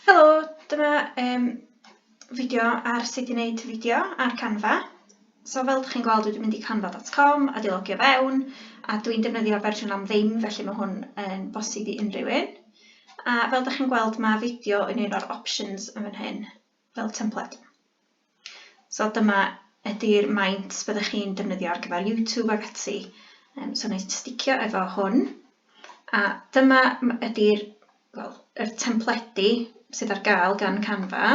Helo, dyma um, fideo ar sut i wneud fideo ar Canva. So fel ydych chi'n gweld, dwi'n mynd i canva.com a dilogio fewn, a dwi'n defnyddio fersiwn am ddim, felly mae hwn yn bosib i unrhyw un. A fel ydych chi'n gweld, mae fideo yn un o'r options yn fan hyn. fel templed. So dyma ydy'r maint byddwch chi'n defnyddio ar gyfer YouTube ac ati. Um, so wneud sticio efo hwn. A dyma ydy'r well, er templedi sydd ar gael gan Canva.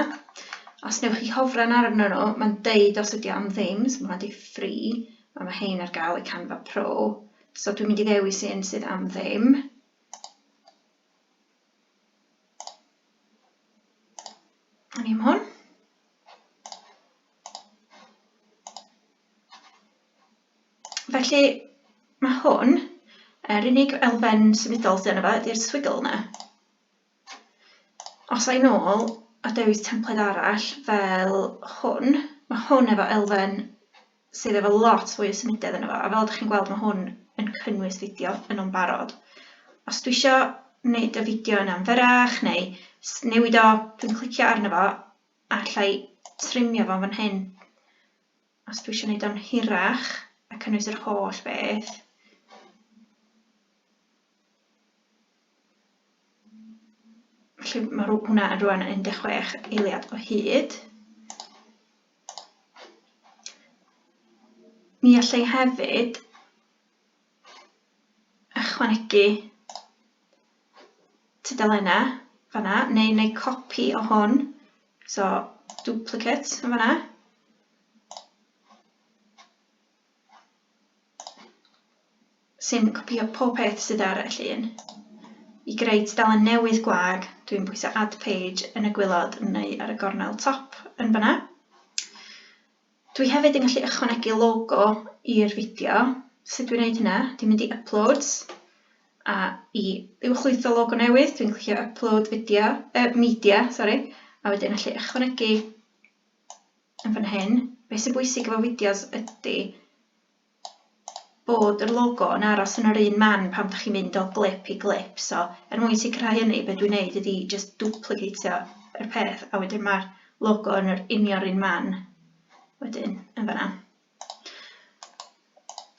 Os newch chi hofran arno nhw, mae'n deud os ydy am ddim, so mae'n deud free, a mae hein ar gael y Canva Pro. So dwi'n mynd i ddewis un sydd am ddim. O'n i'n hwn. Felly, mae hwn, yr unig elfen symudol sydd yna fe, ydy'r swigl yna. Os a'i nôl a dewis templed arall fel hwn, mae hwn efo elfen sydd efo lot fwy o symudedd yno fo, a fel dych chi'n gweld ma' hwn yn cynnwys fideo yn o'n barod. Os dwi isio wneud y fideo yna'n fyrrach neu newid o, dwi'n clicio arno fo a allai trimio fo fan hyn. Os dwi isio wneud o'n hirach a cynnwys yr holl beth, felly mae hwnna yn rwan yn 16 eiliad o hyd. Ni allai hefyd ychwanegu tudalennau fanna, neu wneud copi o hwn, so duplicate yn fanna. sy'n copïo pob peth sydd ar y llun. I greu tudalen newydd gwag, dwi'n pwyso Add Page yn y gwylod neu ar y gornel top yn fan'na. Dwi hefyd yn gallu ychwanegu logo i'r fideo. Sut dwi'n gwneud hynna? Dwi'n mynd i Uploads, a i uwchlwytho logo newydd, dwi'n clicio Upload Video, uh, Media, sori, a wedyn allu ychwanegu yn fan hyn, beth sy'n bwysig efo fideos ydy bod yr logo yn aros yn yr un man pan ydych chi'n mynd o glip i glip. So, er mwyn sicrhau hynny, be dwi'n neud ydy just duplicatio yr peth a wedyn mae'r logo yn yr union un man wedyn yn fan'na.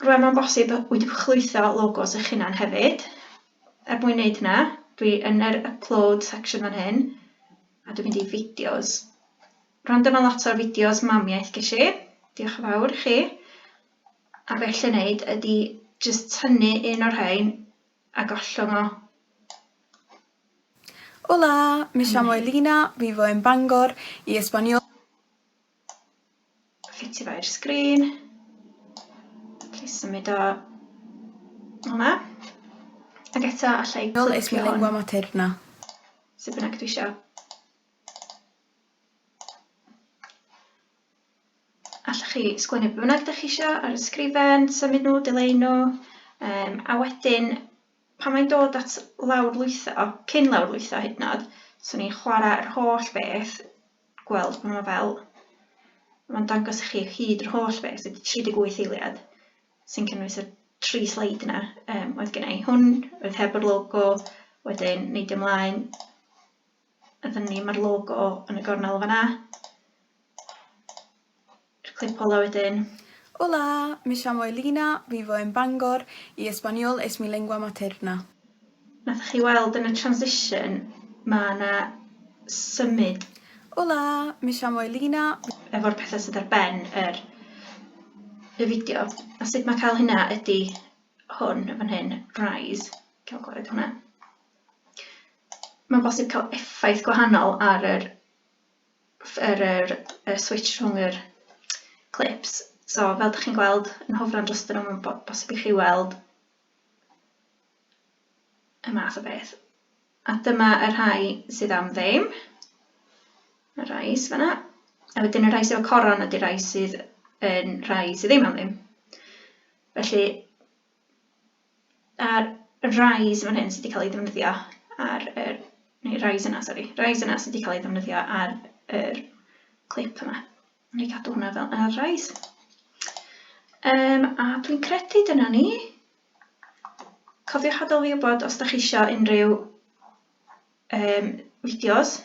Rwan mae'n bosib y wydwch llwytho logos eich hunan hefyd. Er mwyn wneud hynna, dwi yn yr upload section fan hyn, a dwi'n mynd i fideos. Rwan dyma lot o'r fideos mamiaeth ges i, diolch yn fawr i chi. A beth lle wneud ydy jyst tynnu un o'r rhain a gollwng o. Hola, mi siamo Elina, vivo en Bangor, i Espaniola. Ffitio fo i'r sgrin. Felly symud o hwnna. Ac eto alla i Nol es mi lingua materna. Sut bynnag dwi isio. Alla chi sgwennu beth bynnag ydych chi isio ar y sgrifen, symud nhw, dileu nhw, um, a wedyn pan mae'n dod at lawr lwytho, cyn lawr lwytho hyd nod, swn i'n chwarae yr holl beth gweld bod 'na fel, mae'n dangos i chi o hyd yr holl beth, so 38 eiliad sy'n cynnwys y tri sleid yna um, oedd gen i. Hwn oedd heb yr logo, wedyn neidio ymlaen, a dyn ni mae'r logo yn y gornel fanna. Jyst clic follow wedyn. Hola! Me llamo Elina, vivo en Bangor y español es mi lengua materna. Nathoch chi weld yn y transition ma' 'na symud? Hola! Me llamo Elina, vivo. Efo'r petha sydd ar ben yr y fideo. A sut ma' cael hynna ydi hwn yn fan hyn, rise. Gael gwared hwnna. Mae'n bosib cael effaith gwahanol ar yr yr yr y switsh rhwng yr clips so fel dych chi'n gweld yn hofran dros dyn nhw'n bo bosib i chi weld y math o beth a dyma y rhai sydd am ddim y rhai sydd fanna a wedyn y rhai sydd efo coron ydy rhai sydd yn rhai sydd ddim am ddim felly A'r rise fan hyn sydd wedi cael ei ddefnyddio ar yr... neu rise yna, sori. Rise yna sydd wedi cael ei ddefnyddio ar yr clip yma. Wna i gadw hwnna fel ar rise. Um, a dwi'n credu dyna ni. Cofiwch adael fi wybod os da chi eisiau unrhyw um, fideos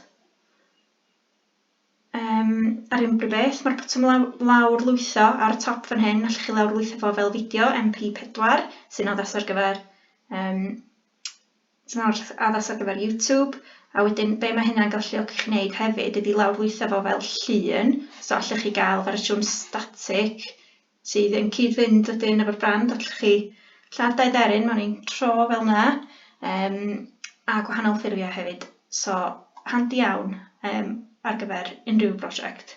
Yym, ar unrhyw beth, mae'r botwm law- lawrlwytho ar y top fan hyn, allwch chi lawrlwytho fo fel fideo MP4, sy'n addas ar gyfer yym sy'n ar- addas ar gyfer YouTube, a wedyn be mae hynna'n galluogi chi wneud hefyd ydi lawrlwytho fo fel llun, so allwch chi gael fersiwn static sydd yn cyd-fynd wedyn efo'r brand a llechi lladd dau dderyn mewn un tro fel yna um, a gwahanol ffurfiau hefyd. So, handi iawn um, ar gyfer unrhyw brosiect.